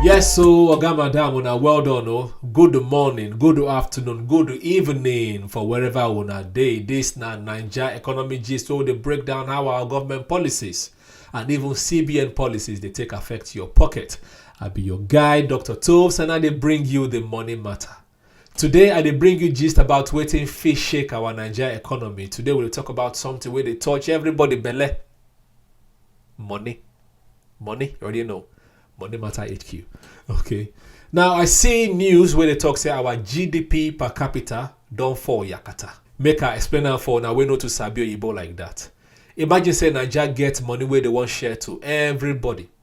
Yes, so Oga Madam, una well done, oh. Good morning, good afternoon, good evening for wherever una day. This na Niger economy gist wey dey break down how our government policies and even CBN policies dey take affect your pocket. I be your guy, Dr. Toves, and I dey bring you the money matter. Today, I dey bring you gist about wetin fit shake our Naija economy. Today, we dey talk about something wey dey touch everybody belle. Money. Money, you already know. Money matter HQ. Okay. Now, I see news where they talk say our GDP per capita don fall yakata. Make I explain am for una wey no too sabi oyibo like that. Imagine say Naija get money wey dey wan share to everybody.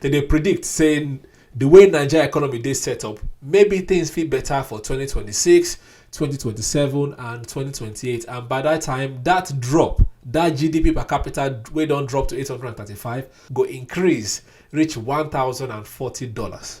Dem dey predict say di way Naija economy dey set up, maybe things fit better for 2026, 2027 and 2028 and by dat time, dat drop, dat GDP per capita wey don drop to 835 go increase reach $1,040.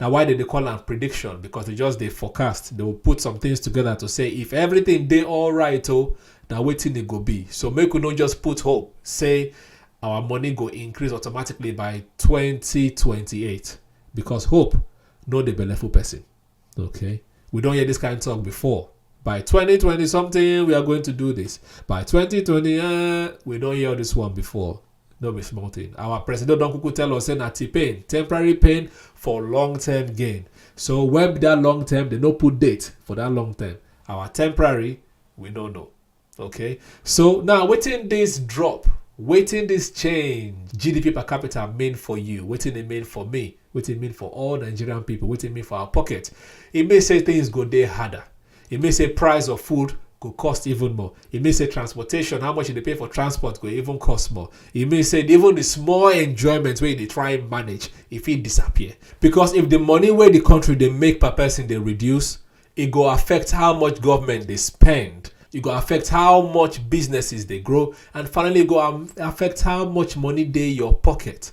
na why dem dey call am prediction because they just dey forecast they will put some things together to say if everything dey alright o na wetin e go be so make we no just put hope say our money go increase automatically by 2028 because hope no dey belleful person okay we don hear this kind talk before by 2020 something we are going to do this by 2020 uh, we don hear this one before no be small thing our president don kuku tell us say na t-pain temporary pain for long term gain so when be that long term they no put date for that long term our temporary we no know okay so now wetin this drop wetin this change gdp per capita mean for you wetin e mean for me wetin e mean for all nigerian people wetin e mean for our pocket e mean say things go dey harder e mean say price of food go cost even more e mean say transportation how much you dey pay for transport go even cost more e mean say even the small enjoyment wey you dey try manage e fit disappear because if the money wey the country dey make per person dey reduce e go affect how much government dey spend e go affect how much businesses dey grow and finally e go am- affect how much money dey your pocket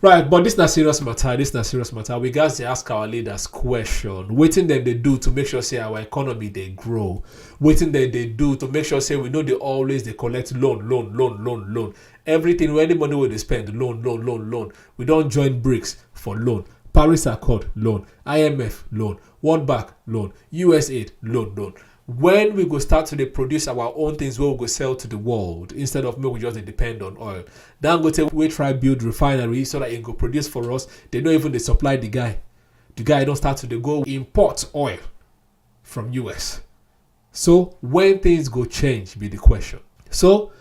Right, but this na serious matter. This na serious matter. We guys dey ask our leaders question. Wetin dem dey do to make sure say our economy dey grow? Wetin dem dey do to make sure say we no dey always dey collect loan, loan, loan, loan, loan. Everything wey any money wey dey spend, loan, loan, loan, loan. We don join BRICS for loan. Paris Accord, loan. IMF, loan. World Bank, loan. USAID, loan, loan. when we go start to dey produce our own things wey we go sell to the world instead of make we just dey depend on oil dangote wey try build refinery so that e go produce for us dey no even dey supply the guy the guy don start to dey go import oil from us so when things go change be the question so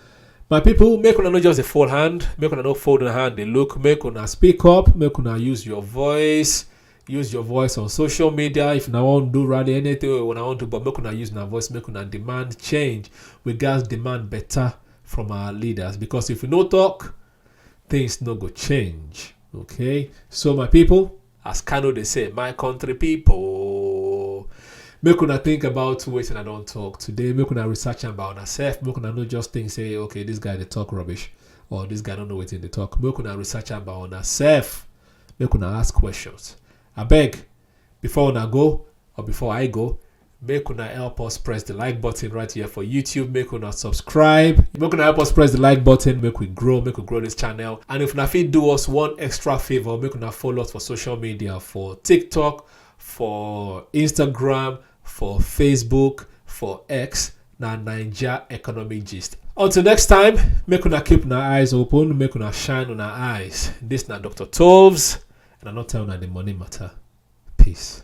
my people make una no just dey fold hand make una no fold una hand dey look make una speak up make una use your voice use your voice on social media if una wan do rally anything wey una wan do but make una use una voice make una demand change we gats demand better from our leaders because if we no talk things no go change okay so my people as kano dey say my country people make una think about wetin i don talk today make una research am by una sef make una no just think say okay this guy dey talk rubbish or this guy no know wetin dey talk make una research am by una sef make una ask questions. Abeg, before una go or before I go, make una help us press the like button right here for YouTube. Make una subscribe. Make una help us press the like button. Make we grow. Make we grow this channel. And if una fit do us one extra favor, make una follow us for social media for TikTok, for Instagram, for facebook for x na naija economic gist until next time make una keep una eyes open make una shine una eyes dis na dr toves and i no tell una the money matter peace